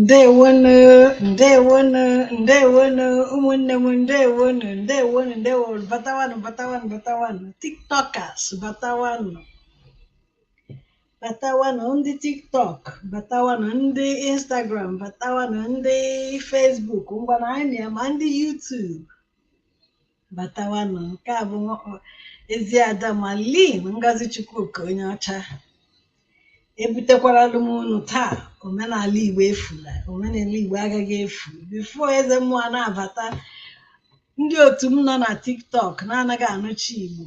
ndewonu ndewonu ndewonu ụmụnne m ndewonu ndewonu ndewonu batawanụ batawanụ batawanụ tiktokers batawanụ batawanụ ndị tiktok batawanụ ndị instagram batawanụ ndị facebook ngwana anyị ma ndị youtube batawanụ nke a bụ nwa- ezi ada malin ngozi chukwuka onye ọcha ebutekwaralụ m unu taa omenala igbo efula omenala igbo agaghị efu before eze mmụọ na-abata ndị otu m nọ na tiktok na-anaghị anụcha igbo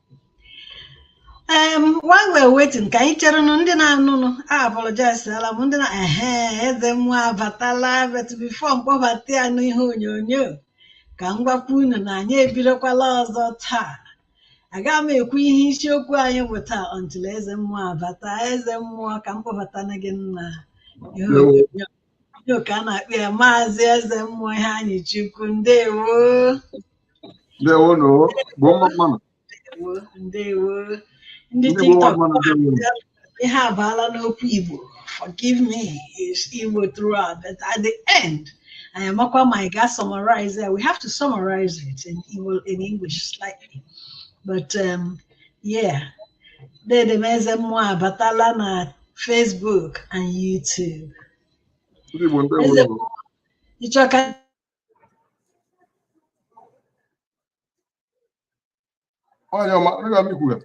em while we're waiting ka anyị cherenụ ndị na-anụnụ a apologizela m ndị na ehe eze mmụọ abatala but before m kpọbata ya n'ihe onyonyo ka m gwakwa unu na anyị ebidokwala ọzọ taa aga m ekwu ihe isiokwu anyị bụ taa until eze mmụọ abata eze mmụọ ka m kpọbatana gị na ihe onyonyo Ka a na-akpọ ya maazị eze mmụọ iheanyịchukwu ndewo ndewonu igbo mma mmanụ ndewo ndewo ndị ndị bụ nwa tiktok mmanụ ndewo na ihe abaala n'okwu igbo forgive me it's igbo throughout but at the end anyị amakwa ma anyị ga summarize it. we have to summarize it in igbo in english slightly but um, Yeah. Dede m eze mmụọ abatala na Facebook and YouTube. Ndị Igbo ndị Eze Igbo. Ịchọ ka Onye ọma, onye ọma ikwu ya.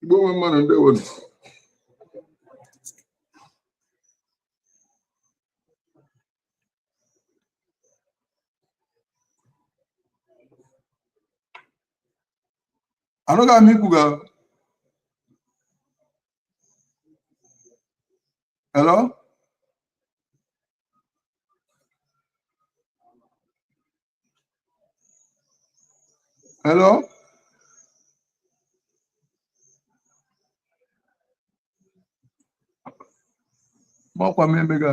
igbo mma mmanụ ndewonu anụghị m ikwu ga hello Hello? Mọkwa m emega.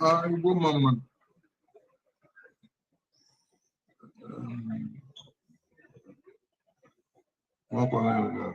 Ah, Igbo mma mma. Um, Nwakwa na ya ga.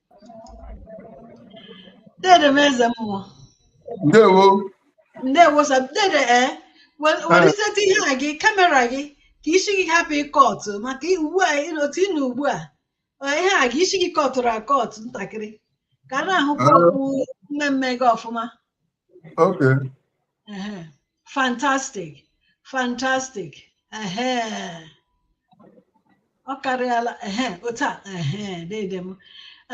Dede m eze mmụọ. Ndewo. Ndewo sir dede ee. Eh? Weliteta eh. ihe a gị kamera gị ka isi gị hapụ ịkọtụ maka ugbu a otu ị nọ ugbu a eh, ihe a gị isi gị kọtụrụ akọtụ ntakịrị ka a na-ahụkwa okpu mmemme gị ọfụma. Okay. fantastic fantastic ọ karịala ehe otu a ehe dede m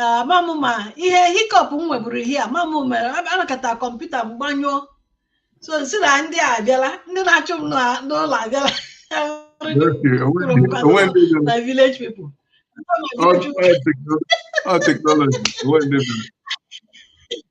ama m ma ihe hiccup m nweburu ihe a ma m mere a nọkata kọmputa m gbanyụọ so m sị na ndị a abịala ndị na-achụ m n'ụlọ abịala na village people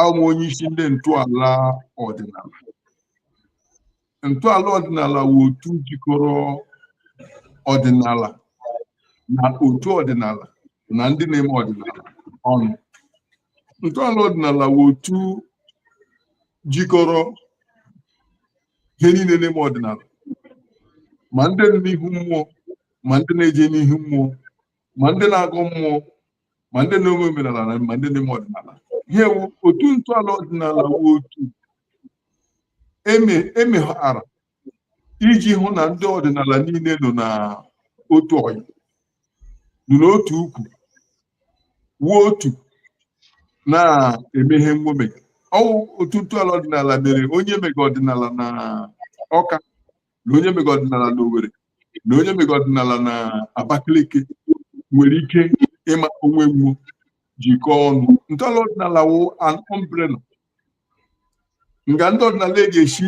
awụ m onye isi ndị ntọala ọdịnala ntọala ọdịnala wụ otu jikọrọ ọdịnala na otu ọdịnala na ndị na-eme ọdịnala ọnụ ntọala ọdịnala wụ otu jikọrọ ihe niile na-eme ọdịnala ma ndị nọ n'ihu mmụọ ma ndị na-eje n'ihu mmụọ ma ndị na-agọ mmụọ ma ndị na-eme omenala na ma ndị na-eme ọdịnala ihe wụ otu ntọala ọdịnala wụ otu e meghara iji hụ na ndị ọdịnala niile nọ na otu ọnụ nọ n'otu ukwu wuo otu na-eme ihe nwo mega ọ wụ otu ntọala ọdịnala mere onye mega ọdịnala na Ọka na onye mega ọdịnala na Owerri na onye mega ọdịnala na Abakaliki nwere ike ịma onwe nwo jikọọ ọnụ ntọala ọdịnala wụ an umbrella nga ndị ọdịnala e ga-esi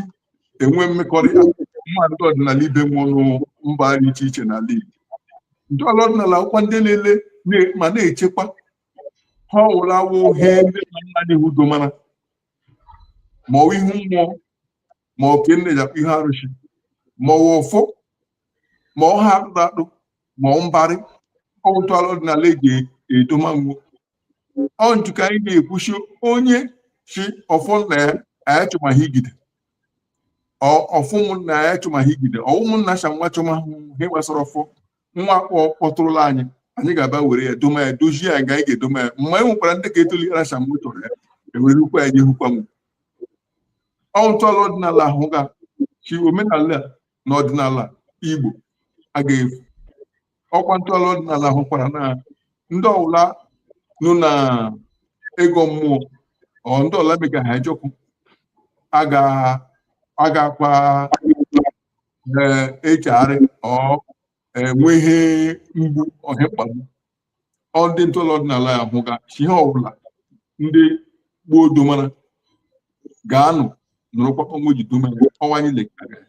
enwe mmekọrịta nwo na ndị ọdịnala ibe nwo nọ mba dị iche iche n'ala Igbo ntọala ọdịnala wụkwa ndị na-ele na- ma na-echekwa ihe ọwụla wụ ihe ndị nna nna anyị hụ domara ma ọ wụ ihu mmụọ ma oke nne ya ihe arụsị ma ọwa ọfọ ma ọha akpụkpọ ma ọ mbarị ọ wụ ntọala ọdịnala eji edomanwu ọ ntu ka anyị na-ekwuchi onye ji ọfọ nna ya anyị chọma ha ijide Ọ- ọfọ ụmụnna ya anyị chọma ha ijide ọ ụmụnna cha nwa chọma ha ihe gbasara ọfọ nwa akpọtụrụla anyị anyị ga-aba were ya doma ya dozie ya ga anyị ga-edoma ya mgbe anyị nwekwara ndị ka etolighara cha mgbe chọrọ ya ewere ukwu ya nye hukwa m ọ ntọala ọdịnala ahụga sị omenala na ọdịnala igbo a ga-efu ọkwa ntọala ọdịnala ahụkwara na ndị ọwụla nọ na igọ mmụọ ọ ndị ọwụla emega Ahịajọkụ a ga- a ga-akwa ee echegharị ọ enwe ihe mgbu ọ ihe mkpagbu ọ ndị ntọala ọdịnala ya ahụga sị ihe ọbụla ndị gboo domara ga-anọ nọrọkwa ọnwa eji dome ya ọnwa anyị lekara ya.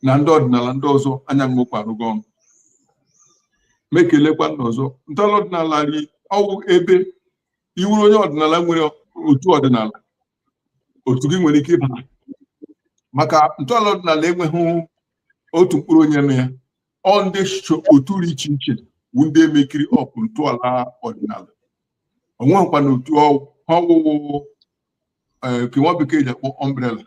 na ndị ọdịnala ndị ọzọ anyị nọkwa arụkọ ọnụ mekelekwa ndị ọzọ ntọala ọdịnala ri ọ wụ ebe ị wụrụ onye ọdịnala nwere otu ọdịnala otu gị nwere ike ịba maka ntọala ọdịnala enweghị otu mkpụrụ onye nwe ya ọ ndị so otu dị iche iche bụ ndị emekiri up ntọala ọdịnala o nweghịkwa na otu ọ wụ ọ wụ nke nwa bekee ji akpọ umbrella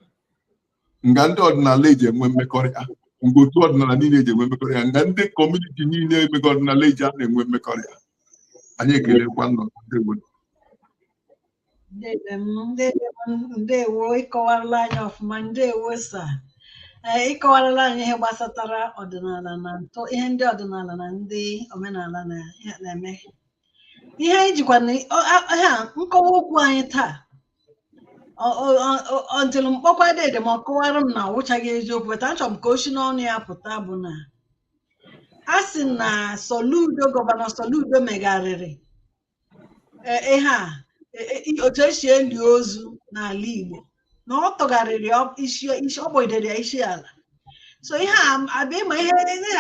nga ndị ọdịnala eji enwe mmekọrịta nga otu ọdịnala niile eji enwe mmekọrịta nga ndị community niile emega ọdịnala eji a na-enwe mmekọrịta anyị ekelekwa ụnụ ndewo ndewo ịkọwarala anyị ọfụma ndewo sir ee ịkọwarala anyị ihe gbasatara ọdịnala na ntọ ihe ndị ọdịnala na ndị omenala na-eme ihe anyị jikwa ha nkọwa okwu anyị taa until m kpọkwa dede m ọ kọwara m na ọ wụchaghị eziokwu but achọrọ m ka o si n'ọnụ ya pụta bụ na a sị na Soludo gọvanọ Soludo megharịrị e, ihe a e, e, otu esi eli ozu n'ala Igbo na ọ tụgharịrị isi ọ kpọgidere ya isi ala so ihe a bịa ị ma ihe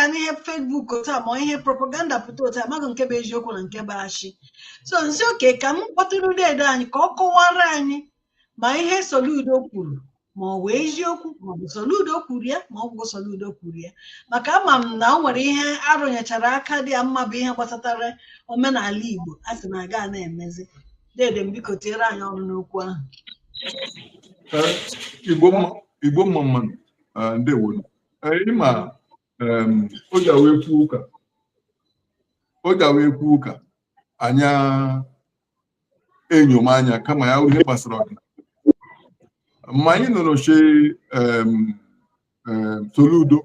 a n'ihe Facebook otu a ma ihe propaganda pụta otu amaghị nke bụ eziokwu na nke bụ asị so m sị okay ka m kpọtụrụ deede anyị ka ọ kọwara anyị ma ihe Soludo kwuru ma ọ bụ eziokwu ma ọ bụ Soludo kwuru ya ma ọ bụ Soludo kwuru ya maka ama m na o nwere ihe arụnyechara aka dị ya mma bụ ihe gbasatara omenala Igbo a sị na a ga na-emezi dede m biko tiere anyị ọnụ n'okwu ahụ Igbo mma mma nụ ndewo ị ma o ji awa ekwu ụka o ji awa ekwu ụka anya enyo m anya kama ya wụ ihe gbasara ọka ma anyị nụrụ shi Soludo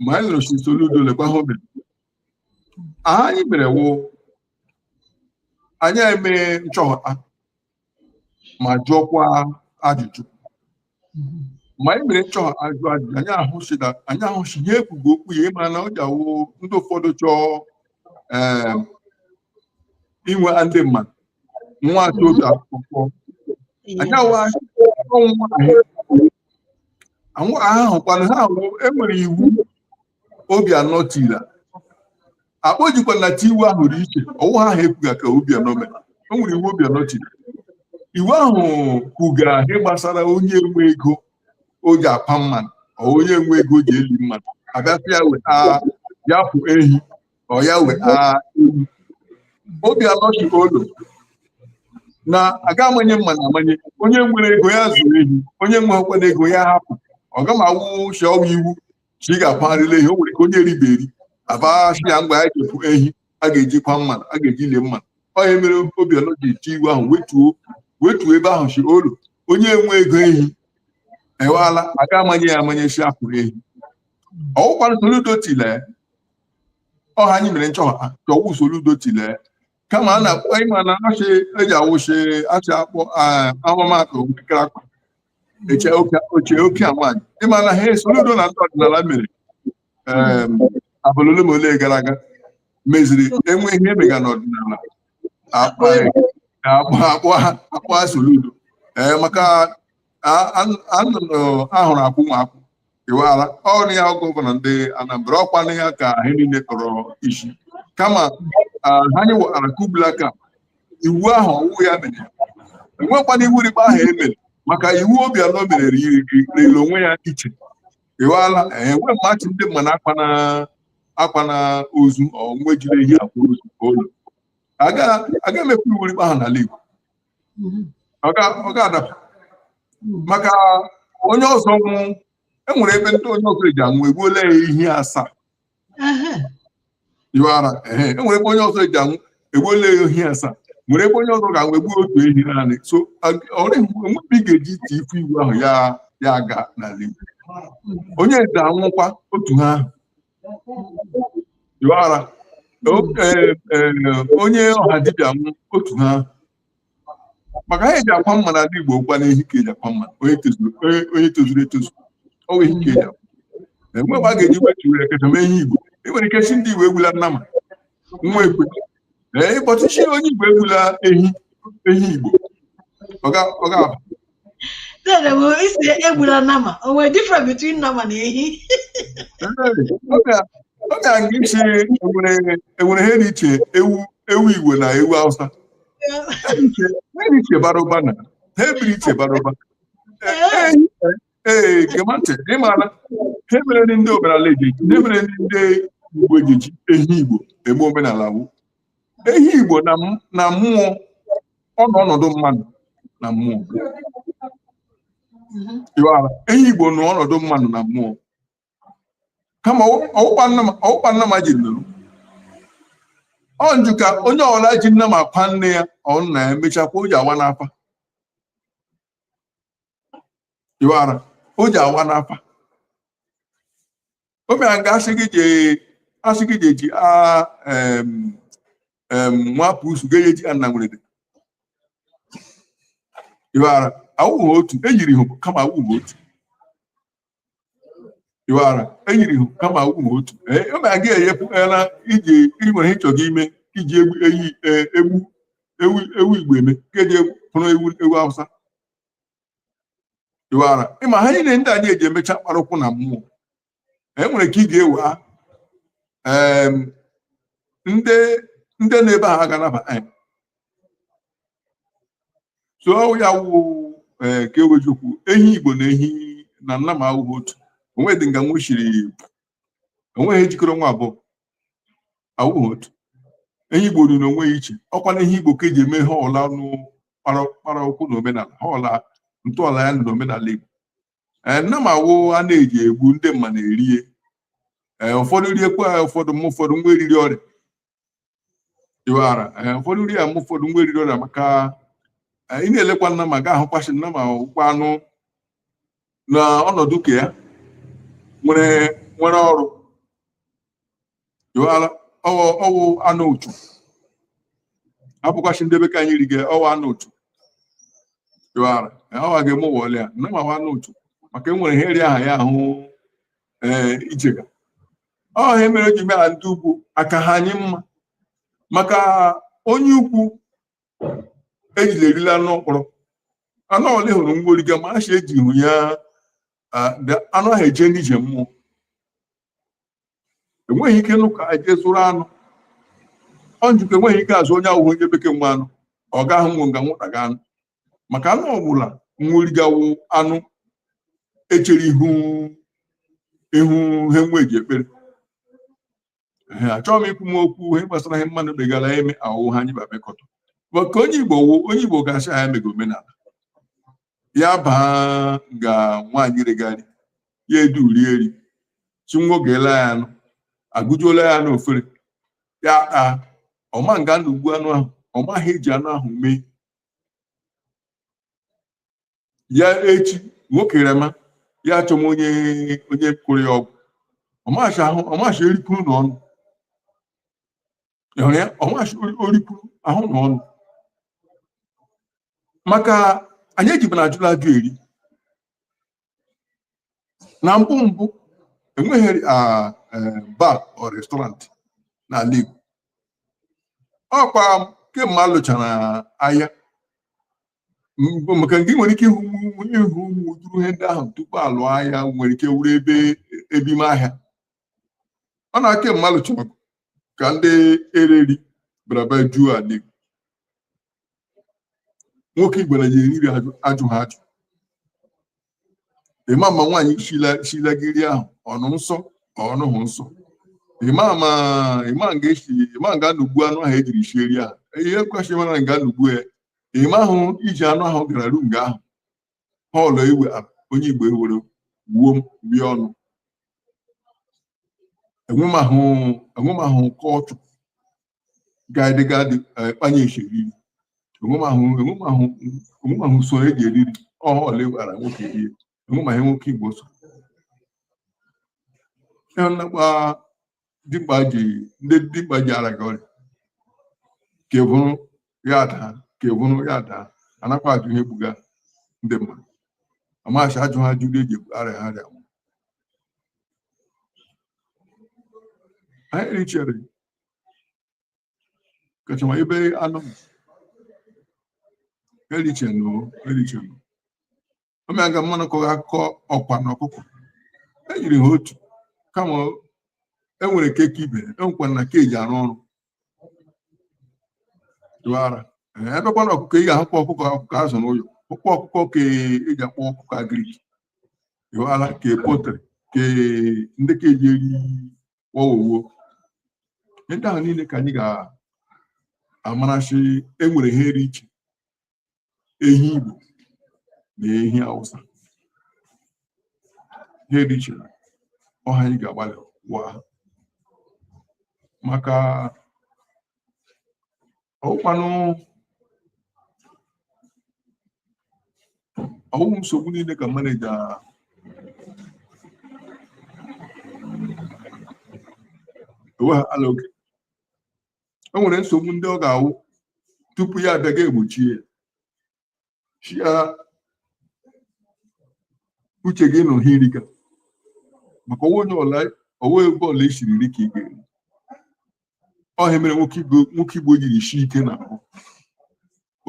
ma anyị nụrụ shi Soludo lekwa ha o mere ha anyị mere wụ anyị emee nchọha ma jụọkwa ajụjụ ma anyị mere nchọha ajụ ajụjụ anyị ahụsi na anyị ahụsi ihe ekwugo okwu ya ịma na o ji awụ ndị ụfọdụ chọọ em, inwe ndị mmadụ nwa atọ otu akwụkwọ anyị awa ọnwụ ahụ ahụkwana ha ahụ enwere iwu Obianọ tiri akpọ jikwa na ti iwu ahụ dị iche ọwụ ha ahụ ekwuga ka Obianọ mere o nwere iwu Obianọ tiri iwu ahụ kwuga ihe gbasara onye enwe ego o ji akwa mmanụ ọ onye enwe ego o ji eli mmanụ abịasị ya weta ya kpụ ehi ọ ya weta ehi Obianọ si olo na aga amanye mma na amanye onye nwere ego ya zụrụ ehi onye enwekwana ego ya hapụ ọ gama awụ shi ọwụ iwu shi ga-akwarịla ehi o nwere ka onye eribe eri abịa shi ya ngwa ya je kpụ ehi a ga-ejikwa mmanụ a ga-eji lie mmanụ ọ ihe mere Obianọ ji eti iwu ahụ wetuo ebe ahụ si olo onye enwe ego ehi ewala aga amanye ya amanye si akpụrụ ehi ọwụkwara Soludo tile ọha anyị mere nchọha chọọ ọwụ Soludo tile kama a na-akpọ ịma na achị eji awụ shi achị akpọ ahụmatụ nkịrịka akwa eche oche oke a nwaanyị ịma na ha Soludo na ndị ọdịnala mere abalị ole ma ole gara aga meziri enwe ihe emega n'ọdịnala akpọ Soludo ee maka ahụrụ akwụ nwa akwụ iwara ọrụ ya gọvanọ ndị Anambra ọkwanụ ya ka ihe niile kọrọ isi kama ah, ha anyị wara kubla ka iwu ahụ ọwụ ya mere enwekwana iwu rị kpa ahụ emere maka iwu Obianọ mere rịrị onwe ya iche iwara enwe mmachi ndị mma na akwa na akwa na ozu onwe jiri ehi akwa ozu olo aga emekwa iwu rị kpa ahụ n'ala Igbo mhm. ọ ga-adaba mhm. maka onye ọzọ nwụ enwere ebe ndị onye ọzọ eji anwụ egbuola ya ehi asaa iwara enwere ebe onye ọzọ eji anwụ egbuola ya ehi asaa nwere ebe onye ọzọ ga-anwụ egbuo otu ehi naanị so enwe mgbe ị ga-eji iti ifu iwu ahụ ya aga n'ala Igbo onye eze anwụkwa otu ha ahụ Iwara onye ọha dibịa m otu ha maka ihe eji akwa mmadụ n'ala Igbo ọkwanụ ehi ka eji akwa mmadụ onye tozuru etozu ọ ehi ka eji akwa enwe mgbe a ga-eji wetu were keta mee ehi Igbo e nwere ike sị ndị Igbo egbula nnama nwa ekwe ee ịkpọtụ sị onye Igbo egbula ehi ehi Igbo ọ ga-aba Ee ị sị egbula nnama. O nwere difference between nnama na ehi. Ọ ga aga iche enwere ihe dị iche ewu ewu Igbo na ewu Hausa. Ha dị iche bara ụba na ha ebiri iche bara ụba. Ee, kemantị, ị maara, ihe mere ndị omenala eji, ihe mere ndị Igbo eji ehi Igbo eme omenala wụ. ehi igbo na m- na mmụọ ọ nọ ọnọdụ mmadụ na mmụọ Mhm. Iwara? ehi igbo nọ ọnọdụ mmadụ na mmụọ kama ọwụkwa nna m- ọwụkwa nnama ji nụrụ ọ njụ ka onye ọbụla ji nnama akwa nne ya ọ nna ya emechakwa o ji awa n'afa Iwara? o ji awa n'afa o mere nga asị gị je asị gị je ji a em em nwa pusu ga eji anna nwere dị iwara awụghị otu eyiri ihu kama awụghị otu iwara eyiri ihu kama awụghị otu ee o mere nga eyepụ na iji iji nwere ihe ị chọrọ ime iji egbu ehi e, egbu ewu ewu igbo eme ka eji pụrụ ewu ewu awụsa iwara ịma ha niile ndị anyị eji emecha kpara ụkwụ na mmụọ e nwere ka ị ga-ewe ha em, ndị ndị nọ ebe a ha ga-anaba so ọ ya wụ ee ka ewejukwu ehi igbo na ehi na nnama awụghị otu onweghị dị nga nwụchiri onweghị ihe jikọrọ nwa abụọ awụghị otu ehi igbo dị n'onwe ya iche ọkwanụ ehi igbo ka eji eme ha ọla nụ kpara ụkwụ na omenala ha ọla ntọala ya na omenala igbo ee nnama wụ a na-eji egbu ndị mmadụ erie ee ụfọdụ riekwa ya ụfọdụ m ụfọdụ nwa eriri ọrịa iwara ee ụfọdụ rie ya m ụfọdụ nwa eriri ọrịa maka ị na-elekwa nnama ga ahụkwa sị nnama wụkwa anụ na ọnọdụ nke ya nwere nwere ọrụ iwara ọwụ ọwụ anụ uchu abụkwa sị ndị be ka anyị rige ọwụ anụ uchu iwara ọwa ga-eme ụwa ọlịa nnama wụ anụ uchu maka enwere ihe eri aha ya ahụ ee ichega ọ ihe mere eji mee ndị ugwu aka ha anyị mma maka onye ugwu ejila erila anụ mkpọrọ anụ ole hụrụ nwo riga ma a sị eji hụ ya ah, da- anụ ahụ eje n'ije mmụọ enweghị ike nụ ka eje zụrụ anụ ọ njikọ enweghị ike azụ onye awụhụ onye bekee nwe anụ ọ gaghị nwụ nga nwụtaga anụ maka anụ ọbụla nwo riga wụ anụ echere ihu ihu ihe nwo ji ekpere achọghị m ikwu m okwu ihe gbasara ihe mmadụ begara eme ahụhụ ha anyị babekọta maka onye igbo wụ onye igbo ga-asị ya emega omenala ya baa nga nwaanyị rega iri ya edu uri eri shi nwo ga-ele ya anụ agụjuola ya n'ofere ya taa ọ ma nga nwo gbu anụ ahụ ọ maghị eji anụ ahụ mee ya echi nwoke rịama ya achọma onye onye kọrọ ya ọgwụ ọmachi ahụ ọmachi eripụrụ na ọnụ ịhụrụ ya ọmachi oripụrụ ahụ na ọnụ maka anyị ejibu na ajụla ajụ eri na mbụ mbụ enweghị ah, eh, bar or restaurant n'ala Igbo ọkwa kemgbe a lụchara agha Mgbe- maka nga ị nwere ike ịhụ ụmụ ịhụ ụmụ ụdịrị ihe ndị ahụ tupu alụ agha nwere ike wụrụ ebe ebe ime ahịa ọ na kemgbe alụchara ọgụ ka ndị ere iri bịara bịa juo ala Igbo nwoke Igbo anaghị eri iri ajụ ajụha ajụ ịma ma nwaanyị shila gị iri ahụ ọ nọ nsọ ọ nọhụ nsọ ịma ma ịma nga eshi ịma nga nwo gbu anụ ahụ ejiri shie iri ahụ ihe kwesịrị mara nga nwo gbu ya ị mahụ eji anụ ahụ gara ru nga ahụ họọlụ iwe onye igbo ewere wuo bịa ọnụ enwemahụ culture gaadịga dị kpanye isi eri iri enwemahụ usoro eji eri iri ọha ole gwara nwoke rie enwemaghị nwoke igbo so ya nakwa dimkpa ji ndị dimkpa ji ara gị ọrịa ke vuru ya daa ke vuru ya daa anakwa ajụ ihe gbuga ndị mmadụ amaghachị ajụha ajụ eri arịaha arịa anyị richere kachama ebe anụ erichenụ erichenụ omea ga mmanụ kọrọ akụkọ ọkwa na ọkụkọ enyiri ha otu kama enwere keke ibe enwekwa na ke eji arụ ọrụ dụara ebekwa na ọkụkọ ị ga-ahụkwa ọkụkọ ọkụkọ azụ n'ụlọ ụkwa ọkụkọ ke eji akpọ ọkụkọ agrik dụara ke potrị ke ndị ke eji eri kpọwowuo ihe ndị ahụ niile ka anyị ga-amarachi enwere ihe dị iche ehi Igbo na ehi Hausa ihe dị iche ọ he anyị ga-agbalịwa maka ọ wụkwanụ ọ wụghị nsogbu niile ka maneja enweghị ala oge o nwere nsogbu ndị ọ ga-awụ tupu ya abịa gị egbochie ya sị ya uche gị nọ he ị riga maka ọwa onye ọla ọwa ebe ọla esiri iri ka ị ga-eri ọ he mere nwoke igbo nwoke igbo jiri shi ike n'ahụ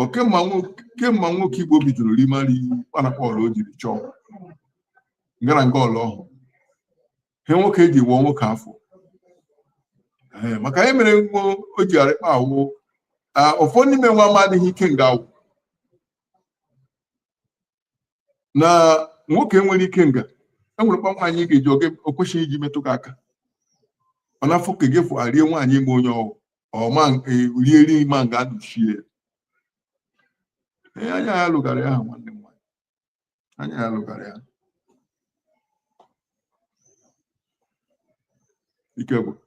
Ọ kemgbe nwoke kemgbe nwoke igbo bidoro rima iri kpanakpa ọla o jiri chọọ ngara nga ọla ọ hụụ he nwoke eji wụọ nwoke afọ Ee, maka ihe mere nwo o ji arịkpa awụ ah, ụfọdụ n'ime nwa amadịghị ike nga awụ na nwoke nwere ike nga enwerekwa nwaanyị ị ga-eji o kwesịghị iji metụ gị aka ọ na-afụ ka gị fụ arie nwaanyị ime onye ọwụ ọma rie ri ma nga anụchie ya Ee, anya ya lụgara ya ahụ nwanne m nwaanyị anya ya lụgara ya ike gwụrụ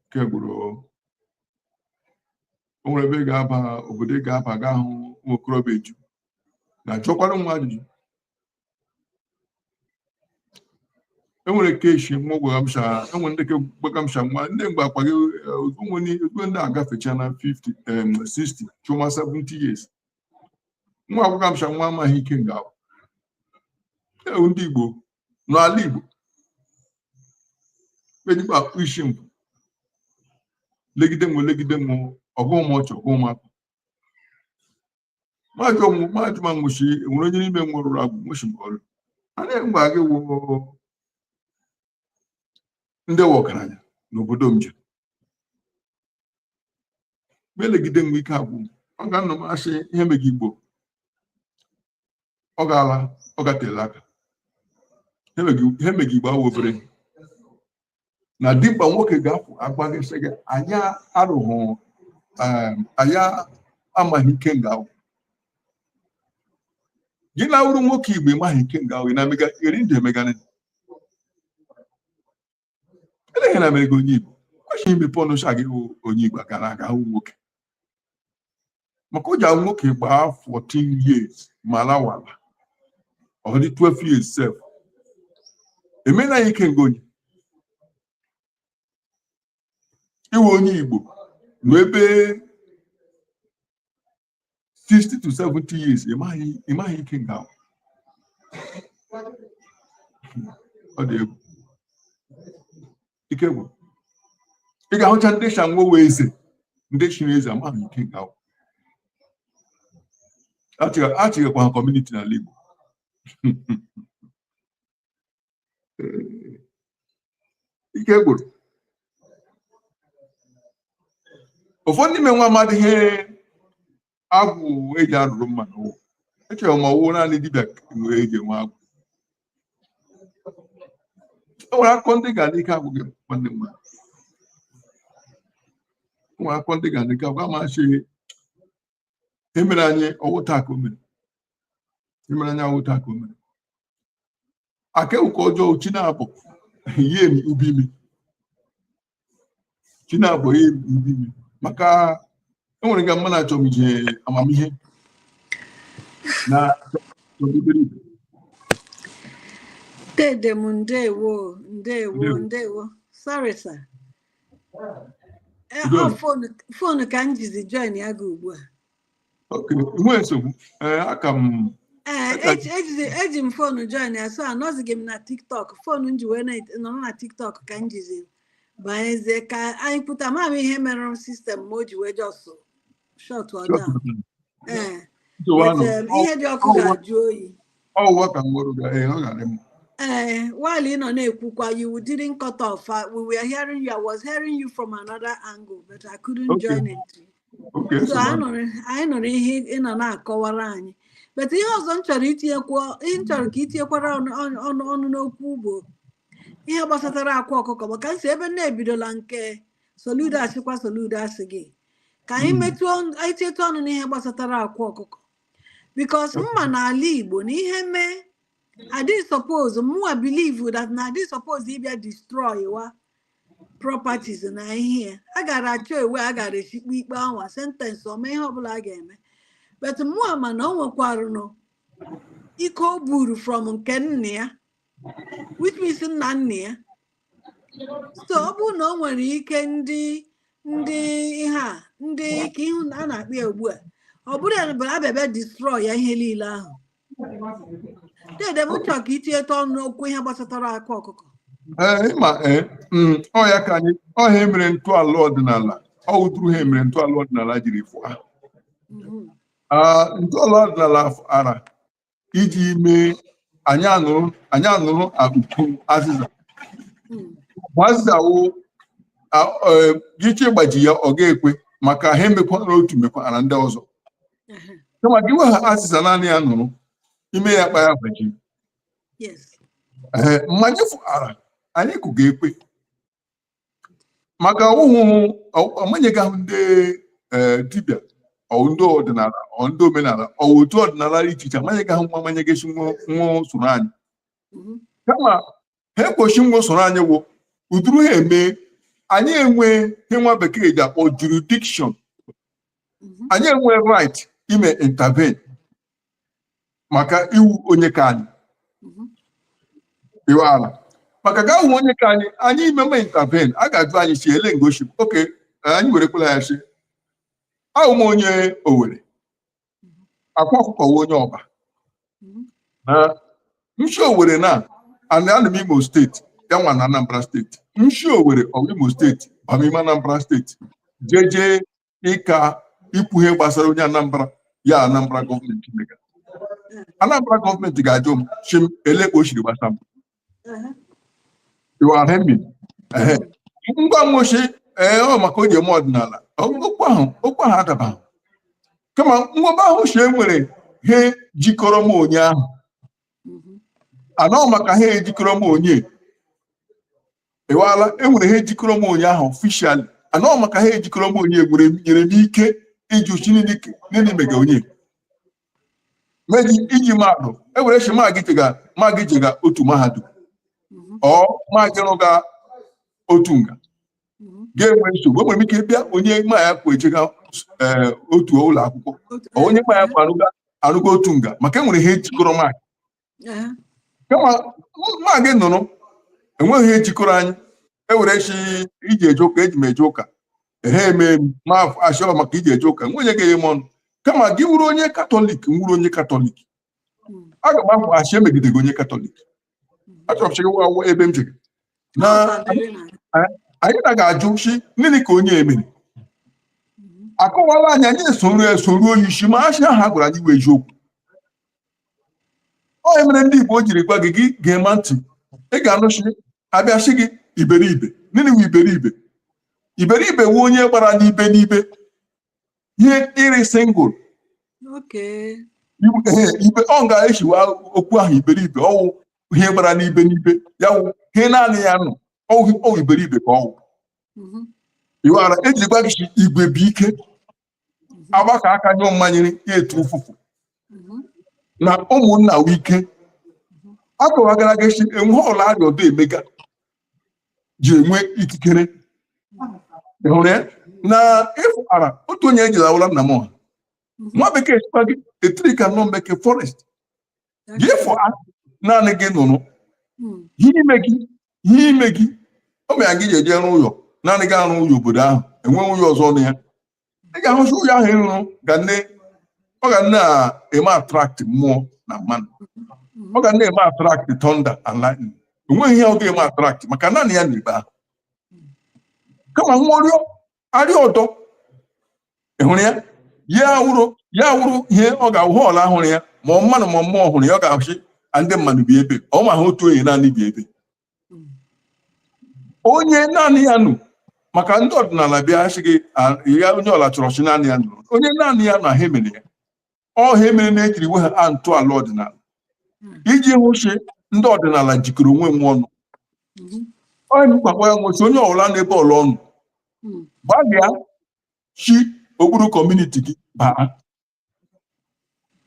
ike gwụrụ o o nwere ebe ị ga-aba obodo ị ga-aba gị ahụ nwa okorobịa eju na-ajụkwara nwa ajụjụ enwere keshi nwa gwagamsha enwere ndị gbagamsha nwa ndị mgbe akpa gị onwere ezigbo ndị agafecha na 50 em, 60 chụma 70 years nwa gwagamsha nwa amaghị ike nga ahụ ewu ndị igbo n'ala igbo ejikwa akpụ isi mbụ legide nwo legide nwo ọgụ m ọchọ ọgụ m akpụ maajụ ọnwụ maajụ ma nwụchi enwere onye n'ime nwụrụ agwụ nwụchi m ọrụ a na-enwe aga ewu ndị wụ ọgaranya n'obodo m ji ma elegide nwo ike agwụ ọ ga-anọma sị ihe mega igbo ọ gaala ọ gatela aka ihe mega igbo awụ obere na dimkpa nwoke ga-apụ agwa gị sị gị na ya arụghị um, na ya amaghị ike nga ahụ gị na-awụrụ nwoke igbo ịmaghị ike nga ahụ ị na-emega eri ndụ emegana eleghị na mere gị onye igbo kwesịghị imepe ọnụ sha gị bụ onye igbo gara aga ahụ nwoke maka oge ahụ nwoke gbaa 14 years ma lawala ọ dị 12 years sef emena ya ikenga o nye iwe onye igbo nọ ebe 60 to 70 years ị maghị ị maghị ikenga ahụ. ọ dị egwu ike gwụrụ ị ga-ahụcha ndị shị ha nwa wụ eze ndị chiri eze amaghị ikenga ahụ achịghakwa ha kọmuniti n'ala Igbo ike gwụrụ ụfọdụ n'ime nwa amadịghị ihe agwụ eji arụrụ mmadụ ụwa echere ma ọ wụ naanị dibịa nwere eji enwe agwụ e nwere akụkọ ndị ga n'ike agwụ gị nwanne m nwaanyị. E nwere akụkọ ndị ga n'ike agwụ amachi e mere anyị ọ wụ taa ka o mere e mere anyị ọ wụ taa ka o mere aka ụka ọjọọ chi na-abụ ihe emi ubi mi chi na-abụ ihe emi ubi mi maka e nwere nga mma na-achọ m ije amamihe na chọbidere ibe Dede m ndewo ndewo Ndewo. ndewo sorry sir Eh, Udo. ọ fon fon ka m jizi join ya gị ugbu a nwee nsogbu aka m eji m fonu join ya so anọzighị m na tiktok fonu m ji wee nọrọ na tiktok ka m jizi banyezie ka anyị pụta ama m ihe mere sistem m o ji wee jọsụ shut down ee ihe dị ọkụ ga-ajụ oyi ọwụwa ka nwere ga ee ọ ga-adị mma ee while ị nọ na-ekwukwa you didn't cut off we were hearing you I was hearing you from another angle but I couldn't join it Oke so anyị nsogbu. nụrụ anyị nụrụ ihe ị nọ na-akọwara anyị but ihe ọzọ m chọrọ itinyekwu ihe m chọrọ ka itinyekwara ọnụ ọnụ- ọnụ ọnụ n'okwu bụ ihe gbasatara akwa ọkụkọ maka nsi ebe m na-ebidola nke soludo asịkwa soludo asị gị ka anyị Mm. metụọ ọnụ- anyị tietụ ọnụ n'ihe gbasatara akwa ọkụkọ bikos m ma n'ala igbo na ihe mee adị suppose mụwa believe that na adị suppose ịbịa destroy wa properties na ihe ya a gara achọ ewe a gara eshi kpe ikpe anwa sentensị ọma ihe ọbụla a ga-eme but mụa ma na o nwekwarụnụ ike ọ bụrụ from nke nna ya which means nna nna ya so ọ bụrụ na o nwere ike ndị ndị ihe a ndị ka ihu na a na-akpị ya ugbu a ọ bụrụ ya bụ a bịa bịa destroy ya ihe niile ahụ dede m chọrọ ka itinyetụ ọnụ n'okwu ihe gbasatara akwa ọkụkọ ee ịma ee mm, ọ ya ka anyị ọ ihe emere ntọala ọdịnala ọ wụ ụdụrụ ihe emere ntọala ọdịnala jiri fụa Mhm. Ah, ntọala ọdịnala a fụara iji mee anyị anụrụ anyị anụrụ ka ukwu azịza Mm. ma azịza wụ gị chọọ ịgbaji ya ọ ga-ekwe maka ihe emekwara otu mekwara ndị ọzọ kama gị iwe ha azịza naanị ya nụrụ ime ya kpa ya gbaji ee ma anyị fụara anyị kụga ekwe maka ọ wụhụ amanyegahụ ndị ee dibịa ọwụ ndị ọdịnala ọ ndị omenala ọwụ otu ọdịnala dị iche iche amanyegahụ nwa amanyeghị si nwa nwa soro anyị kama ha ekpochi nwa soro anyị wụ ụdụrụ ihe eme anyị enwe ihe nwa bekee ji akpọ jurisdiction anyị enwe right ime intervene maka ị wụ onye ke anyị iwala maka gị awụ onye ke anyị anyị imeme intervene a ga-ajụ anyị si ele nga o si okay anyị werekwala ya si awụ m onye owere akwa ọkụkọ wụ onye ọba na m shi owere na ana anụ m imo steeti ya nwa na anambra steeti m shi owere ọwa imo steeti bama ime anambra steeti jeje ịka ikwu ihe gbasara onye anambra ya anambra gọọmenti mega anambra gọọmenti ga-ajụ m shi m ele ka o siri gbasa m m gwa nwa shi ee ọ maka o ji eme ọdịnala okwu ahụ okwu ahụ adabaghị kama nwa bịa ahụ shi e nwere ihe jikọrọ m onye ahụ mhm. anọ maka ihe jikọrọ m onye iwala enwere ihe jikọrọ m onye ahụ officially anọ maka ihe jikọrọ m onye nwere nyere m ike ịjụ shi nịnị mega onye meji iji maadụ ewere shi maa gị jega maa gị jega otu mahadum ọ maa gị rụga otu nga gị enwee nsogbu enwere m ike bịa onye ma ya kwụ ejega ee otu ụlọ akwụkwọ onye ma ya kwụ arụga arụga otu nga maka enwere ihe jikọrọ maa gị kama ma gị nụrụ enweghị ihe jikọrọ anyị ewere shi iji eje ụka eji m eje ụka ehe eme m ma achọrọ maka iji eje ụka nwunye gị m ọnụ kama gị wụrụ onye katọlik m wụrụ onye katọlik aga m ahụ a shị emegide gị onye katọlik achọrọ m chịgị wa ebe m chịgị na anyị na ga-ajụ shi nịnị ka onye emere akọwala anyị anyị esoro esoro onye isi ma a shị ihe a gwara anyị wụ eziokwu onye mere ndị Igbo jiri gwa gị gị ga-ema ntị ị ga-anụ shi a bịa sị gị iberibe nini wụ iberibe iberibe wụ onye gbara n'ibe n'ibe ihe ịrị single ibe ọ ga-echiwa okwu ahụ iberibe ọ wụ ihe gbara n'ibe n'ibe ya wụ ihe naanị ya nọ ọ wụ iberibe ka ọ wụ iwara mhm. e jiri gwa gị sị igwe bụ ike agbakọ aka nyụọ mmamịrị ya etu ụfụfụ na ụmụnna wụ ike akọwagara gị shi enwe ọla arịa ọdọ emega ji enwe ikikere Ị hụrụ ya na ịfụara otu onye ejila awụla nna m ọha nwa bekee sịkwa gị a tree cannot make a forest gị fọ naanị gị nụrụ hmm. ihe ime gị ihe ime gị o mere gị ji eje rụọ ụlọ naanị gị arụ ụlọ obodo ahụ enweghị ụlọ ọzọ na ya ị ga-ahụ shi ụlọ ahụ ị rụrụ ga nne ọ ga na-eme attract mmụọ na mmanụ hmm. ọ ga na-eme attract thunder and lightning enweghị ihe ọ ga-eme attract maka naanị ya nọ ebe ahụ kama nwụrịọ arịa ọdọ ị hụrụ ya ya wụrụ ya wụrụ ihe ọ ga-awụ ihe ọla hụrụ ya ma ọ mmanụ ma mmụọ hụrụ ya ọ ga-ahụ shi a ndị mmadụ bi ebe ọ ma ha otu onye naanị bi ebe onye naanị ya nụ maka ndị ọdịnala bịa sị gị "Ah, ya onye ọla chọrọ shi naanị ya nụrụ onye naanị ya nụ ha emere ya ọ ha mere na ejiri nwe ha a ntọala ọdịnala hmm. iji hụ shi ndị ọdịnala jikọrọ onwe nwo ọnụ hmm. onye mkpakpọ ya wụ shi onye ọbụla n'ebe ọla ọ nụ hmm. gbalịa shi okpuru community gị baa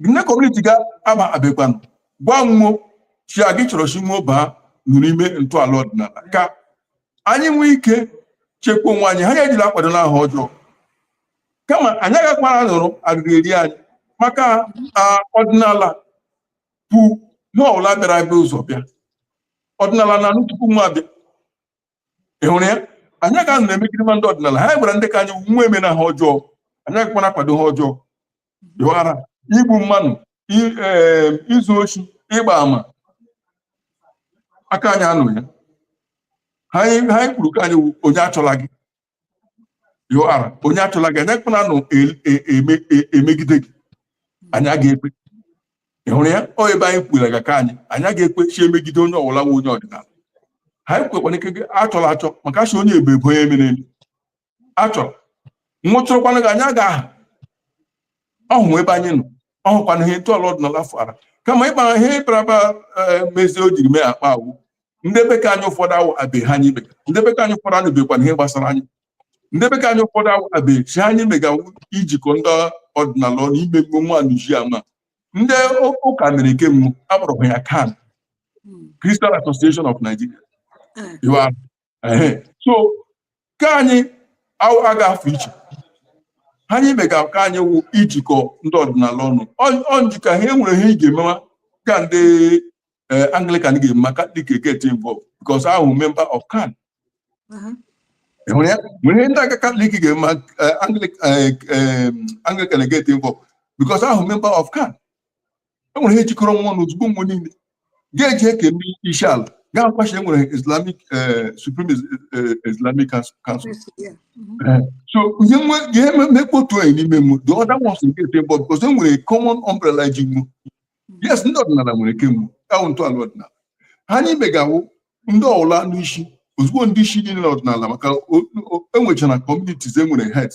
nne community ga aba abịakwanụ gwa nwo shi a gị chọrọ shi nwo baa nụrụ ime ntọala ọdịnala ka anyị nwee ike chekwa onwe anyị ha anyị ejila akwado na ha ọjọọ kama anyị agakwara nụrụ arịrị eri anyị maka ọdịnala bụ ihe ọbụla bịara abịa ụzọ bịa ọdịnala na anụ tupu nwo abịa ị hụrụ ya anyị aga nụ na-emegide ma ndị ọdịnala ha gwara ndị ka anyị nwa eme na ha ọjọọ anyị agakwara akwado ha ọjọọ dịwara igbu mmanụ izu oshi ịgba ama aka anyị anụ ya ha anyị kwuru ka anyị onye achọla gị you are onye achọla gị anya kpụna nụ emegide gị anyị aga ekwe ị hụrụ ya ọ ebe anyị kwụrụ ga ka anyị anyị aga ekwe shi emegide onye ọwụla wụ onye ọdịnala anyị kwekwana ike gị achọla achọ maka achọ onye ebe ebe onye mere elu achọrọ nwụchụrụkwana gị anyị aga aha ọ wụ ebe anyị nọ ọ wụkwana ihe ntọala ọdịnala fara kama ịkpara ihe ịkparaba mezie o jiri mee akpa awụ ndị be ka anyị ụfọdụ awụ abe ihe anyị mega ndị be ka anyị ụfọdụ anụbekwana ihe gbasara anyị ndị be ka anyị ụfọdụ awụ abe ihe anyị mega wụ ijikọ ndị ọdịnala ọnụ ime mgbe nwa nuji ama ndị ụ- ụka mere ke nwo akpọrọ aha ya CAN Christian Association of Nigeria You are- ehe. so ka anyị aga afọ iche ihe anyị mega ka anyị wụ ijikọ ndị ọdịnala ọnụ ọ njikọ ha enwere ihe ị ga-emewa ka ndị eh, anglikan ga-eme ma katọlik get involved because a wụ member of CAN mm-hmm. nwere ihe ndị ụka katọlik ga-eme eh, anglikan eh, get involved because a wụ member of CAN enwere ihe jikọrọ nwo ọnụ ozugbo nwo niile ga-eji eke ndị isi ala gaa kwashe enwere islamic eh, supreme Is- eh, islamic Council- council Yeah. Mhm. so ihe nwe ihe me- mekpo otu onye n'ime nwo the other ones get involved because e nwere common umbrella ji nwo yes ndị ọdịnala nwere ke nwo ọ wụ ntọala ọdịnala ihe anyị mega awụ ndị ọwụla ndị isi ozugbo ndị isi niile n'ọdịnala maka enwechara communities enwere head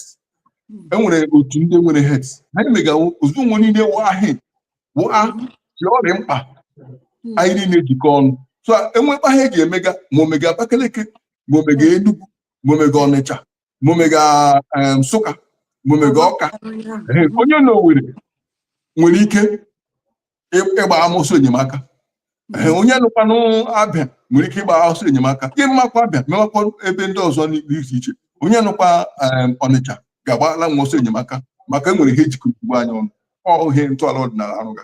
enwere otu ndị nwere heads ihe anyị mega wụ ozugbo nwo niile waa he waa si ọ rị mkpa anyị niile jikọ ọnụ so enwekpa ha eji emega ma omega Abakaliki ma omega Enugu ma omega Ọnịcha ma omega Nsụka ma omega Ọka onye na Owerri nwere ike ịgba ọsọ enyemaka onye nụkwanụ Abịa nwere ike ịgba ọsọ enyemaka ịmakwa Abịa mewakwa ebe ndị ọzọ dị iche iche onye nụkwa Ọnịcha ga-agbala nwo ọsọ enyemaka maka enwere ihe ejikọ ugbu anyị ọnụ ọ wụ ihe ntọala ọdịnala arụga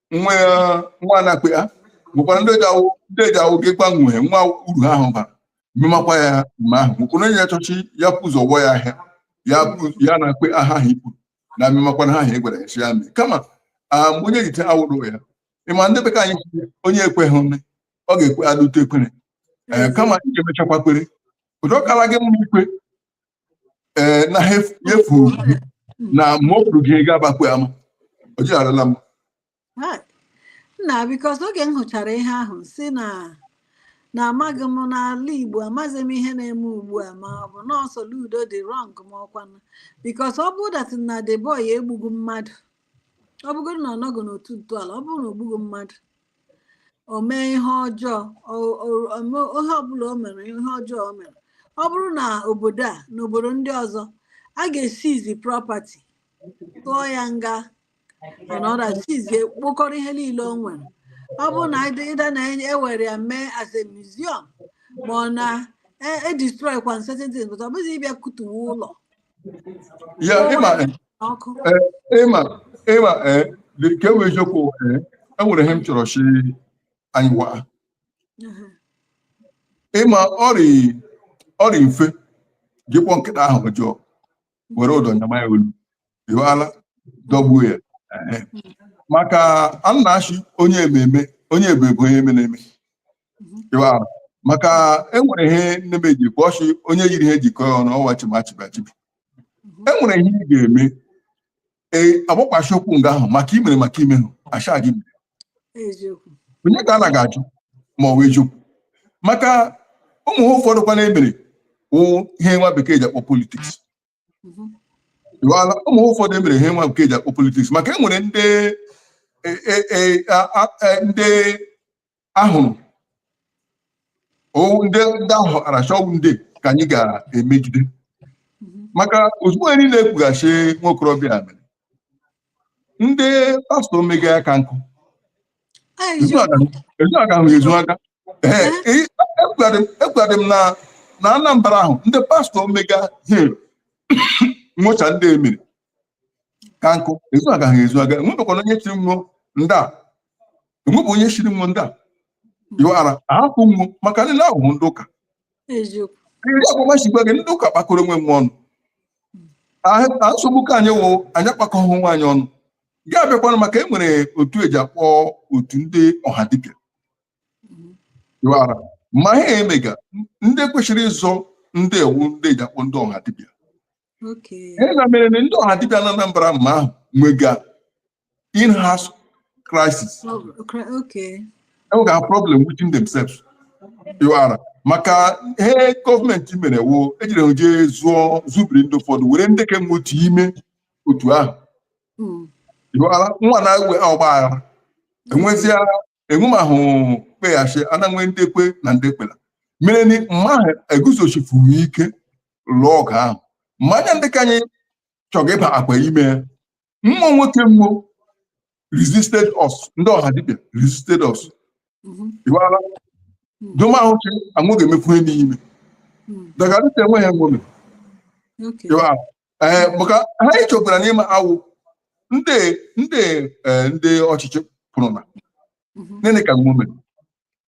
nwa ya nwa na-akpe ya nwekwara ndị eji awụ ndị eji awụ gị gbanwee nwa uru ahụ bara mmemakwa ya mgbe ahụ nwekwara onye chọchi ya pụ ụzọ gwọ ya ahịa ya pụ ya na-akpe aha ahụ ikwu na mmemakwa na ha ahụ egwara ya si ya mee kama ah, mgbe onye jite awụrụ ya ịma ndị be ka anyị sị, onye ekweghị nne ọ ga-ekwe n'ute ekwere ee kama ị ga-emechakwa kwere ụdị ọ kara gị mma ikwe ee na ha ef- efu na ma ọ bụrụ gị ị ga-agbakwe ama o jigharala m Hai. nna because oge m hụchara ihe ahụ si na na amaghị m n'ala igbo amaghị m ihe na-eme ugbu a ma ọ bụ na Soludo dị wrong ma ọkwanụ because ọ bụrụ that na the boy egbughị mmadụ ọ bụgoro na ọ nọghị n'otu ntọala ọ bụrụ na ogbughị mmadụ o mee ihe ọjọọ o- o- o mee ihe ọbụla o mere ihe ọjọọ o mere ọ bụrụ na obodo a na obodo ndị ọzọ a ga-eseize property tụọ ya nga anọda sizie kpokọrọ ihe niile o nwere ọ bụrụ na either either na ewere ya mee as a museum ma ọ na e- e destroy kwa certain things but ọ bụghị ịbịa kutuwe ụlọ ya ịma ịma ịma nke bụ eziokwu enwere ihe m chọrọ si anyị waa ịma ọ rị mfe gị kpọọ nkịta aha ọjọọ were ụdọ nyama ya olu ịwala dọgbuo ya maka a na-asị onye ememe onye ebe bụ onye eme na-eme ịwala maka enwere ihe nne m eji bụ ọchị onye yiri ihe jikọ ya ọnụ ọwa chimachibachibi e nwere ihe ị ga-eme ee agbakwachi okwu nga ahụ maka imere maka imehụ asha gị mere eziokwu onye ka a na ga-ajụ ma ọ wụ eziokwu maka ụmụ ihe ụfọdụ kwanụ emere wụ ihe nwa bekee ji akpọ politiks Mhm. Ịghọọla? ụmụ ihe ụfọdụ emere ihe nwa bekee ji akpọ politiks maka e nwere ndị e- e- e- a- a- e- ndị ahụrụ ọ wụ ndị ndị ahụ aracha ọ wụ ndị ka anyị ga-emegide maka ozugbo anyị na-ekwughachi nwa okorobịa a mere ndị pastọ emega ya ka nkụ ezu aga ahụ ezu aga Ee, e- ekwughadị m- ekwughadị m na na anambra ahụ ndị pastọ emega ihe nwocha ndị emere ka nkụ ezu aga ha ezu aga enwebekwana onye sịrị nwụọ ndị a enwebụ onye sịrị nwụọ ndị a ịwara ahapụ nwo maka ndị na-ahụhụ ndị ụka ndị agbamachi gwa gị ndị ụka kpakọrọ onwe nwo ọnụ a nsogbu ka anyị wụ anyị akpakọghị onwe anyị ọnụ ga-abịakwanụ maka e nwere otu eji akpọ otu ndị ọha dibịa ịwara ma ha emega ndị kwesịrị ịzọ ndị a wụ ndị eji akpọ ndị ọha dibịa ihe na mere na ndị ọha dibịa na Anambra mma ahụ nwega in-house crisis enwega oh, problem within themselves ịwara maka ihe gọọmenti mere wụ ejiri je zụọ zụbiri ndị ụfọdụ were ndị kenwe otu ime otu ahụ hmm. ịwara nwa na-enwe ọgba aghara enwezia enwemahụ kpeghachi ananwe ndị kwe na ndị ekwela mere ni mma ahụ eguzochifuru ike lụọ ọgụ ahụ mma ya ndị ka anyị chọga ịbakwa ime ya mmụọ nwoke mmụọ resisted us ndị ọha dibịa resisted us ịwala domahụ chi anwụ ga-emefu ihe n'ime dagarịta enweghị enwome ịwala ee eh, maka ha chọpụtara n'ime awụ ndị ndị eh, ndị ọchịchị kpụrụ na mhm. nene ka nwa mere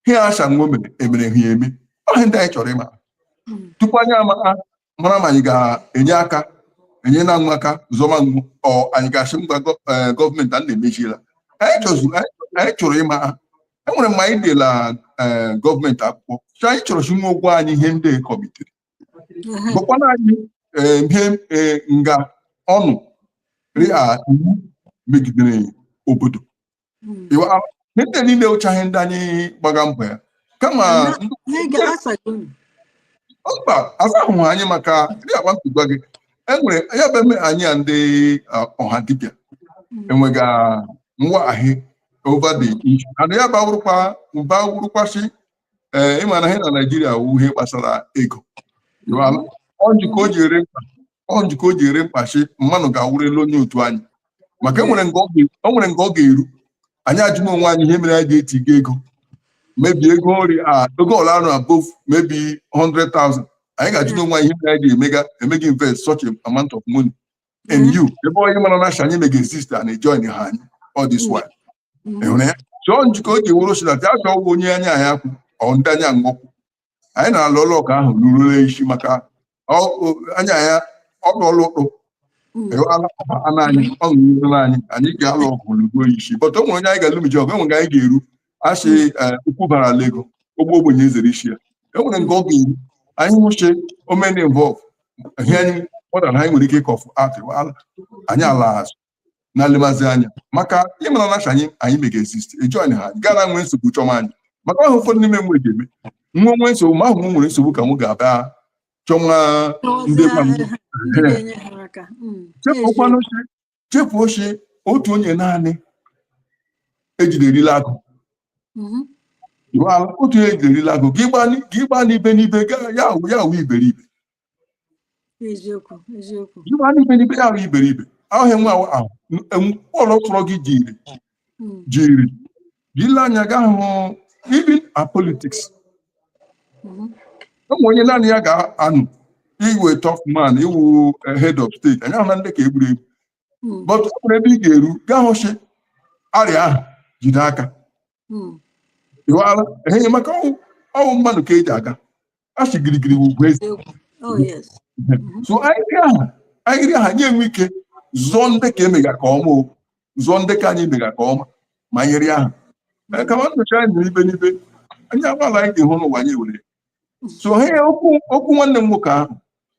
ihe a sị nwa mere emere ha eme ọ ihe ndị anyị chọrọ ịma mhm. tupu anyị ama mara ma anyị ga-enye aka enye na nwa aka zọma nwo ọ anyị ga-asị ngwa eh, gọọmenti a na-emechiela anyị chọrọ ịma ha enwere mgbe anyị dela gọọmenti akwụkwọ anyị chọrọ chi nwa gwa anyị ihe ndị kọmitere bụkwa na anyị eh, ihe eh, nga ọnụ ri a iwu megidere obodo Iwa- a- ihe ndị a niile wụchaghị ndị anyị gbaga mbọ ya kama ndị Anyị ga-asago unu. mba asahụ anyị maka ndị agba mpigwa gị enwere ya bụ eme anyị a ndị ah, ọha dibịa enwega ngwa ahị over the issue and ya bawụrụkwa bawụrụkwasị ee ịma na ihe na naijiria wụ ihe gbasara ego ịghọọla? ọ njikọ o ji ere mkpa ọ njikọ o ji ere mkpa shị mmadụ ga-awụrụ elu onye otu anyị maka e nwere nga ọ ga- o nwere nga ọ ga-eru anyị ajụma onwe anyị ihe mere anyị ji etiga ego maybe ego nri a ego ọla arụ above maybe 100,000 anyị ga-ajụ onwe anyị ihe mere anyị ji emega emega invest such a amount of money in you ebe onye mara na shị anyị mega exist ejoinhụ anyị all this while ịhụrụ ya chọọ njikọ o ji wụrụ si na ya chọọwa onye anyị na ya kwụ ọ ndị anyị na ha kwụ anyị na-alụ ọgụ ahụ ruo n'isi maka ọ- ọ- anyị na ya ọ bụ ọlụ ụtụ ewala ọba anụ anyị ọ ṅụrụla anyị anyị ga-alụ ọgụ lụruo isi but o nwere onye anyị ga-alụ mji ọgụ enwere nke anyị ga-eru asị okwu bara la ego ogbe ogbenye esere isi ya enwere nke ọ ga-eru anyị ahụ shị o mee involve ihe anyị kpọtara anyị nwere ike ịkọfụ atịwala anyị alaa azụ na-elemazi anya maka ịmara na shị anyị mega exist ejoinhụ anyị gara nwee nsogbu chọma anyị maka ahụ ụfọdụ n'ime nwe ga-eme nwa nwee nsogbu ma ahụ m nwere nsogbu ka m ga-abịa chọma ndị chefukwanụ chefuo shị otu onye naanị ejiderila agụ mm-hmm. otu onye ejiderila agụ gị gbaa n'ibe n'ibe ya awụ ya awụ iberibe eziokwu eziokwu ị gbaa n'ibe n'ibe ya awụ iberibe ahụ enwe ahụ ahụ enwe- ọrụ tụrụ gị jiri Mm, jiri gị lee anya ga hụ even na politics mhm, o nwe onye naanị ya ga-anọ ị wụ tough man ị wụ eh, head of state anyị ahụna ndị nke e gburu egbu mm, but ọ bụrụ ebe ị ga-eru gaa hụ shị a rị ọha jide aka hmm. ịghọala enye maka ọ wụ ọ wụ mmadụ ka eji aga a sị girigiri ugwu eze oh, mm-hmm. so a rị ọha a rị ọha anyị enwee ike zụọ ndị ka emega ka ọma o zụọ ndị ka anyị mega ka ọma ma nyere aka eh, kama nyocha anyị mere ibe n'ibe anyị agbaala anyị ga-ehụ n'ụwa anyị were so ha okwu nwanne m nwoke ahụ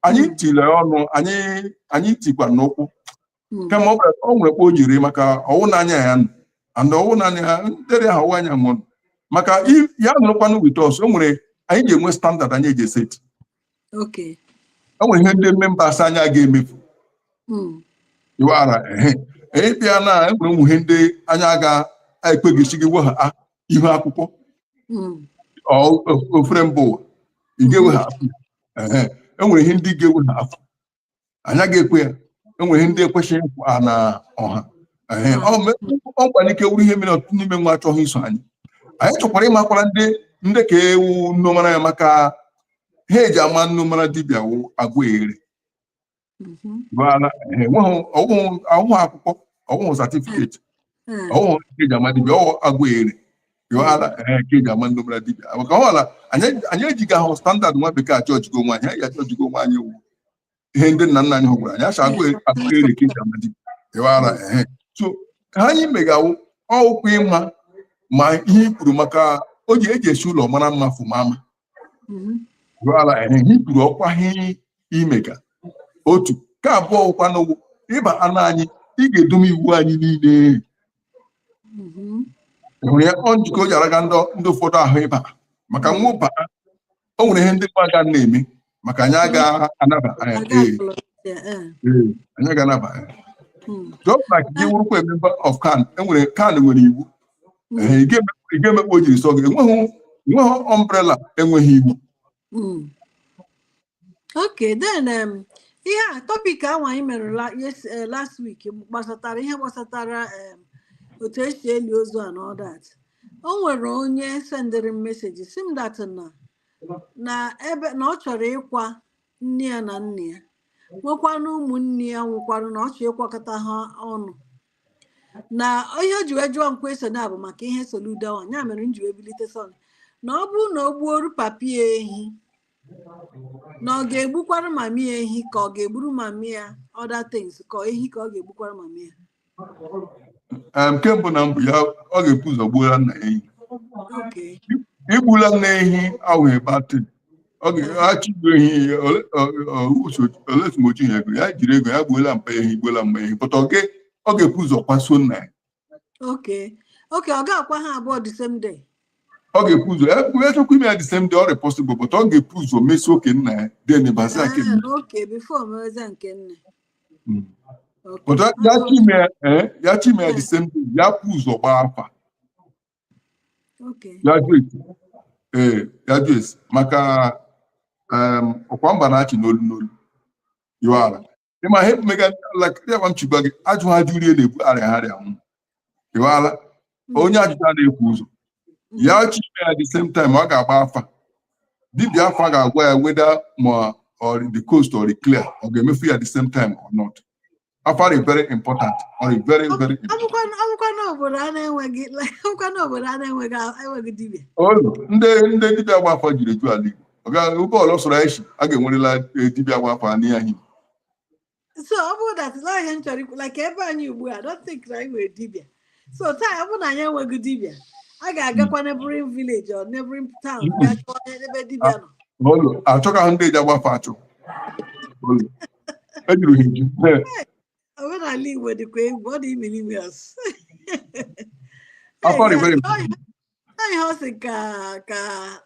anyị tile ọnụ anyị anyị tikwa n'ụkwụ hmm. kama ọ nwere kpa o jiri maka ọ wụ na anyị anọ and ọ wụ na anyị ntere ha ọ wụ anyị mụrụ maka ya nọrọkwanụ with us o nwere anyị ji enwe standard anyị eji eseti o nwere ihe ndị members anyị aga emefu hmm. iwara ehe anyị bịa na enwere ụmụ ihe ndị anyị aga ekpeghịsi gị we ha ah, ihu akwụkwọ hmm. ofere mba ụwa ị ga-ewe ha enwere ihe ndị ga-ewe ha afọ anyị agaghị ekwe ya enwere ihe ndị ekwesịghị ikwu ha na ọha Ee, ọ me- o nwere ike wụrụ ihe mere ọtụtụ n'ime nwa achọghị iso anyị anyị chọkwara ịmakwara ndị ndị ka wụ ndị mara ya maka ihe eji ama ndị mara dibịa wụ agwa ere Mhm. gbara ọ wụghị akwụkwọ ọ wụghị satifiketi hmm. ọ wụghị ya ka eji ama dibịa ọ wụ agwa ere yọala ka eji ama ndị mara dibịa maka ọ wụ la anyị ejighị ahụ standard nwa bekee ajọjiga onwe anyị anyị ajọjiga onwe anyị wụ ihe ndị nna nna anyị hụgwara anyị achọ agwa ere ka eji ama dibịa yọala ehe so ihe anyị mega wụ ọ wụkwa ịma ma ihe i kwuru maka o ji eji esi ụlọ mara mma fụma ama mm-hmm. gwara anyị ihe kwuru ọkwa ihe imega otu nke abụọ wụkwa na ọ wụ ịba na anyị ị ga-edome iwu anyị niile mm-hmm. hụrụ ya ọ njikọ o ji araga ndị ụfọdụ ahụ ịba maka nwa ba o nwere ihe ndị mmadụ na-eme maka anyị aga-anaba eh, anyị aga-anaba hmm. just like gị wụrụkwa member of CAN enwere CAN nwere iwu hmm. eh, ị ga-eme kpa o jiri sọ gị enweghị enweghị umbrella enweghị iwu hmm. ok then um, ihe a topic ahụ anyị mere eh, last week gbasatara ihe gbasatara um, otu esi eli ozu a and all that o nwere onye sendịrị m message sị m that na na ebe na ọ chọrọ ịkwa nna ya na nne ya nwekwana ụmụnne ya nwụkwara na ọ chọrọ ịkwakọta ha ọnụ na ihe o ji wee jụọ question a bụ maka ihe Soludo ahụ ya mere m ji wee bilite sọnị na ọ bụrụ na o gbuoru papi ya ehi na ọ ga-egbukwara mami ya ehi ka ọ ga-egburu mami ya other things ka ehi ka ọ ga-egbukwara mami ya nke mbụ na mbụ ya ọ ga-ebu ụzọ gbuola nna ehi igbula nna ehi awụghị bad thing ọ ga-achọ igbu ehi ole as much as ego ya jiri ego ya gbuola mpa ehi gbuola mma ehi but okay ọ ga-ebu ụzọ kwasuo nna ya ọ ga-akwa ha abụọ the same day ọ ga-epu ụzọ achọkwa ime ya the same day ọ rị possible but ọ ga-epu ụzọ mesie nke nna ya then baza nke nne Hmm. But that, that email, eh, that email the same thing. Ya pulls or alpha. Okay. Ya juice. Eh, ya juice. Maka um okwamba na achi n'olu n'olu. You are. Ima hep mega like ya wam chibagi. Aju ha juri ele bu are ha re amu. ịghọala onye ajụjụ ana efu ụzọ ya chi ime ya the same time ọ ga-agba afa dibịa afa ga-agwa ya whether ma ọ the coast ọ dị clear ọ ga-emefu ya the same time or not afa dị very important ọ dị very very important Abụkwanụ abụkwanụ obodo a na-enweghị abụkwanụ obodo a na-enweghị enweghị dibịa. Olu, ndị ndị dibịa agba afa jiri eju ala Igbo ọ gaghị ụgbọ ọlọ sọrọ anyị si a ga-enwerela eh, dibịa agba afa n'ihe anyị so ọ bụrụ that is ihe m chọrọ ikwu like ebe anyị ugbu I don't think na anyị nwere dibịa so taa ọ bụrụ na anyị enweghị dibịa a ga-agakwa hmm. neighboring village or neighboring town hmm. gaa chọọ ebe dibịa nọ olu achọga ndị eji agba afa achọ olu ejuru ha eju omenala igbo dịkwa egwu ọ dị imiri ime ọsụ ihe ọ sị ka ka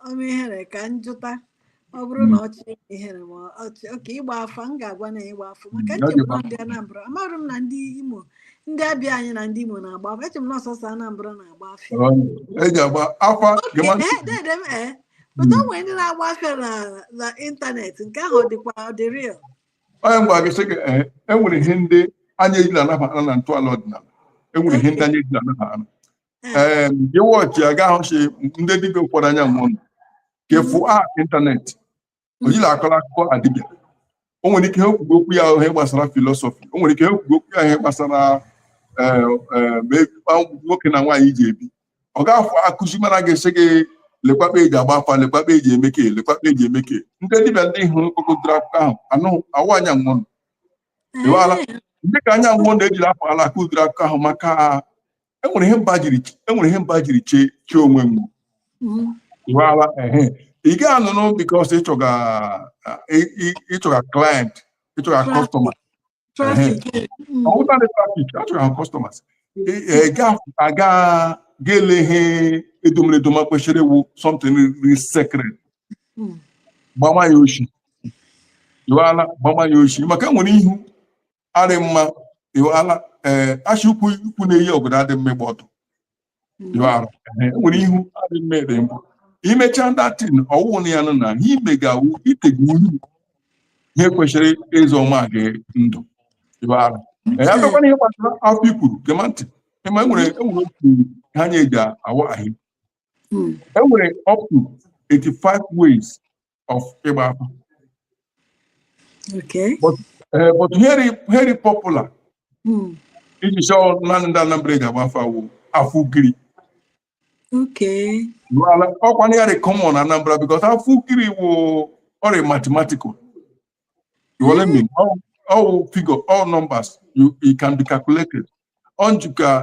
ọma ihere ka njụta ọ bụrụ na ọchị ihere ma ọchị oke ịgba afa m ga-agwa na ịgba afa maka Mm, ọ dị echeburu m na ndị Anambra amaghị m na ndị Imo ndị Abịa anyị na ndị Imo na-agba afa eche m na ọ sọọsọ Anambra na-agba afa eji agba afa oke gama ee dede m ee pụta o nwere ndị na-agba afa na na ịntanetị nke ahụ ọ dịkwa ọ dị real onye mgbe gị sị gị ee enwere ihe ndị anyị ejila anaba ana na ntọala ọdịnala enwere ihe ndị anyị ejila anaba ana ee gị watch ya gaa hụchi ndị dibịa ụfọdụ anya mụọ nọ kefu a ịntanetị o jiri akọrọ akụkọ dibịa o nwere ike ha ekwugo okwu ya ihe gbasara philosophy o nwere ike ha ekwugo okwu ya ihe gbasara ee, ee, ma e- ma nwoke na nwaanyị ji ebi ọ ga-afụ akụzi mara ga-asị gị lekwa kpa eji agba afa lekwa kpa eji eme ke lekwa kpa eji eme ke ndị dibịa ndị hụrụ kpokọtara akụkọ ahụ anụ awụ anya nwụọ nọ Ịwaala? ndị ka anya nwụọ na-ejiri afọ ala akọ ụdịrị akụkọ ahụ maka enwere ihe mba jiri enwere ihe mba jiri chee chee onwe m ịwala ehe ị gaghị anụnụ because ịchọga ị- ị- ịchọga client ịchọga Traffic. customer Traffic. Mm. ọbụladị traffic achọga customers Ị- ị ga- aga ga-ele ihe edomere edoma kwesịrị ịwụ something rị secret Mm. gbama ya oshi ịwala gbama ya oshi maka enwere ihu adị mma ịwala ee eh, asị ukwu ukwu na-eyi ọgọdọ adị mma ịgba ọtọ hmm. eh, nwere ihu adị mma ịdị mma imechaa that thing ọ wụ na ya nọ na ihe i mega wụ itigbu ihe kwesịrị ịzọma gị ndụ ịwala ya bịakwana ihe gbasara afa i kwuru gema ntị ị ma enwere enwere otu ha nye eji awa ahị hmm. enwere up to 85 ways of ịgba afa Okay. but eh, but very very popular Hmm. iji chọọ naanị ndị Anambra eji agba afa wụ afa ugiri Okay. N'ala ọkwa na ya dị common na Anambra because afa ugiri wụ ọ rị mathematical you will let me all, all figure all numbers you, you can be calculated on you can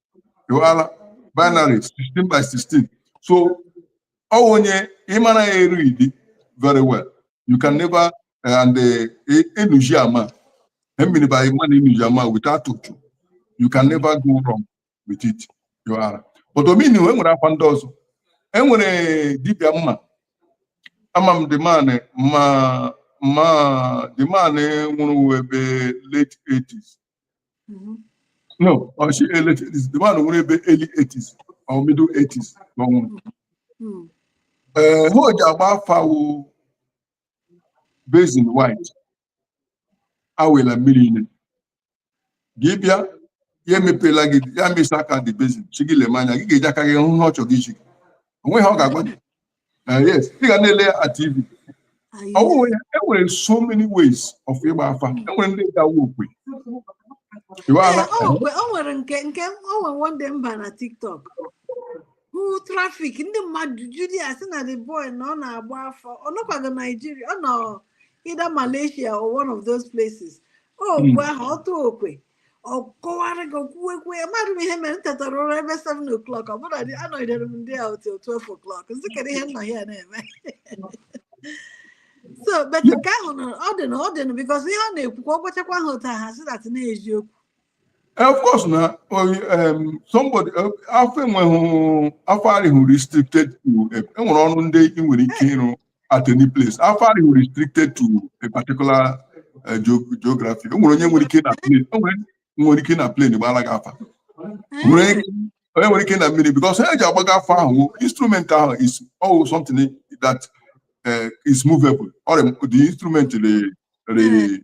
ịghọala binary 16 by 16 so ọ onye mara ya e-read very well you can never eh, and enuji eh, ama emiri by man enuji ama without otu you can never go wrong with it ịghọala but omini e nwerekwa ndị ọzọ enwere dibịa m ma ama m the man m ma the man nwụrụ ebe late 80s no ọ si early 80s the man nwụrụ ebe early 80s or middle 80s ka ọ nwụrụ ee ihe o ji agba afa wụ basin white awela mmiri ime gị bịa ya emepela gị ya mesa aka the basin sị gị leme anya gị ga-eji aka gị hụ ihe ọ chọrọ izi gị o nweghị ihe ọ ga-agwa gị Ah, yes ị ga na-ele ya ka tv ọ bụghị onye e nwere so many ways of ịgba afa e nwere ndị gawa okwe Iwe ala. Ee, o nwe- o nwere nke nke o nwere one day m ba na tiktok hụ traffic ndị mmadụ juru a sị na the boy na ọ na-agba afa ọ nọkwaghị naijiria ọ nọ either malaysia or one of those places o okwe ahụ ọ tụọ okwe ọ kọwara gị kwuwekwe ya mmadụ m ihe mere m tetara ụra ebe 7 o'clock but anọgidere m ndị a till 12 o'clock m sị kedu ihe nna ya na-eme so but nke ahụ na ọ dị na ọ dị na because ihe ọ na-ekwu ka ọ gwachakwa ha otu ha sị that na eziokwu eh, of course na um, somebody eh, afa enweghị afa arịhụ restricted to enwere ọrụ ndị ị nwere ike ịrụ at any place afa arịhụ restricted to a particular uh, geo- geography o nwere onye nwere ike na plane o nwere nwere ike na plane gbara gị afa O nwere ike- onye nwere ike na mmiri because ihe e ji agbaga afa ahụ instrument ahụ is always something that uh, is movable or the instrument re, re,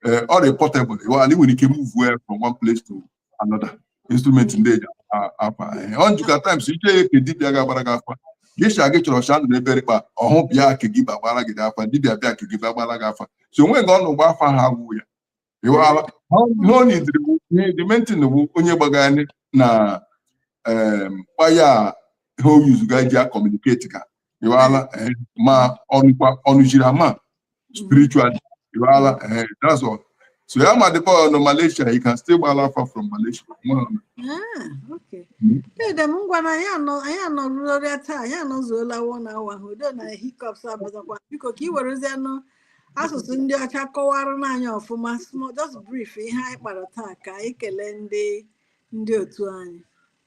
eh, ọ dị portable ịghọtara na ị nwere ike move ya from one place to another instrument ndị eji a- afa Eh, ọ njikọ times iche ya ka dibịa ga-agbara gị afa gesha gị chọrọ shandụ n'ebe rịkpa ọhụ bịa ka gị gbagbara gị afa dibịa bịa ka gị gbagbara gị afa so o nweghị ọ nọ gba afa ha agwụ ya ịghọtara ihe ọ na-ediri bụ the main thing bụ onye gbagharị na em, waya ihe o yuzuga ji a-communicate ka ịghọala eh, ma ọnụkwa ọnụchiri ama spiritual ịghọala eh, that's all so ya ma dịkwa ọ nọ Malaysia he can still gbala afa from Malaysia nwa ọ nọ. Ah, okay. Mm. Dede m ngwa na anyị anọ anyị anọrụrịa taa anyị anọzuola one hour ahụ though na hiccups abazakwa biko ka ị werezianụ asụsụ ndị ọcha kọwaranụ anyị ọfụma small just brief ihe anyị kpara taa ka anyị kelee ndị ndị otu anyị